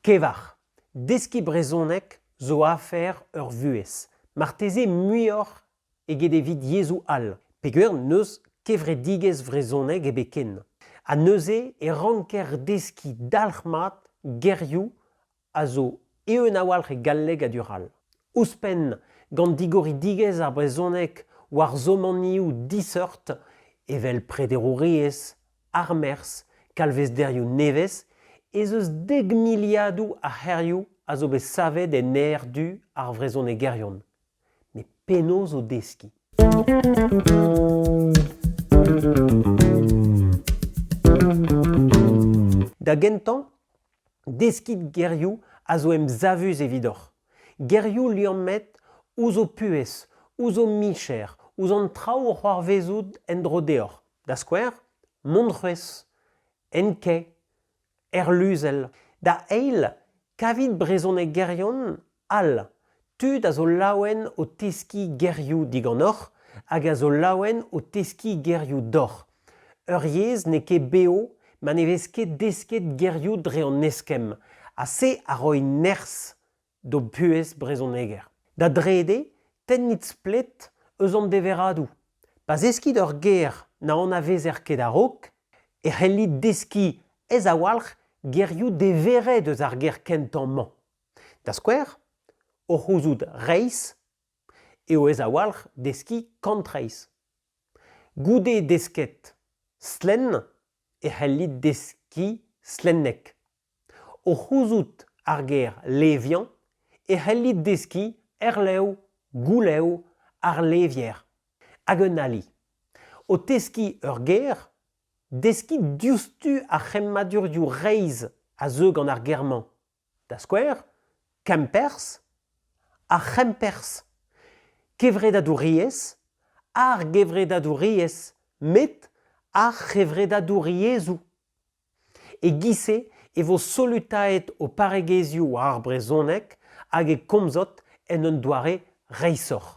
Kevar. Deskiñ brezhoneg zo afer ur vuhez, marteze muioc'h eget evit yezhoù all, peger n'eus kevredigezh vrezhoneg ebet ken. Ha neuze e ranker deskiñ dalc'hmat gerioù a zo eeun a-walc'h e galleg ha du-all. Ouzhpenn, gant digoridigezh ar brezhoneg war zomanioù diseurt evel prederouriezh armerzh, kalvezderioù nevez, ez eus dek miliadoù a c'hêrioù a zo bet savet en aer-du ar vrezhonegerion. Met penaos o deskiñ? Da gentañ, deskiñ gerioù a zo emsavus evidoc'h. Gerioù liammet ouzh ho puhez, ouzh ho micher, ouzh an traoù o c'hoarvezout en-dro deoc'h. da skouer Montroez, Enkay, Erluzell. Da eil, kavit brezhonegerion all, tud a zo laouen o teskiñ gerioù diganeoc'h hag a zo laouen o teskiñ gerioù deoc'h. Ur yezh n'eo ket bev ma ne vez ket desket gerioù dre an eskemm ha se a roi nerzh d'ho buhez brezhoneger. Da drede, tennit splet eus an deveradoù. Pa zeskit ur ger na anavezer ket a-raok, e c'hellit deskiñ ez-awalc'h gerioù deveret eus ar ger kentañ-mañ. Da skouer, o c'houzout reizh eo ez-awalc'h deskiñ kantreizh. Goude desket slenn e c'hellit deskiñ slenneg. O c'houzout ar ger leviañ e c'hellit deskiñ erlev goulev ar levier hag un ali. O teskiñ ur ger deskiñ diouzhtu ar c'hemmadurioù reizh a zeu gant ar ger-mañ, da skouer Kemperzh, ar c'hemperzh, kevredadouriezh, ar gevredadouriezh met ar c'hevredadouriezhoù. E-giz-se e vo solutaet ho parregezhioù war ar brezhoneg hag e komzot en un doare reishoc'h.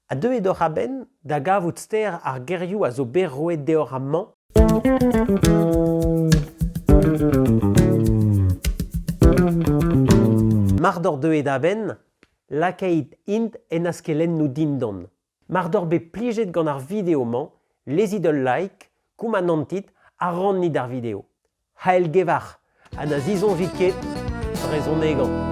Ha deuet oc'h a-benn da gavout ster ar gerioù a zo bet roet deoc'h amañ? Mar doc'h deuet a-benn, lakait int en askelennoù dindan. Mar doc'h bet plijet gant ar video-mañ, lezit ul like, koumanantit ha rannit ar video. Ha elgevar ha na zisoñjit ket brezhonegañ.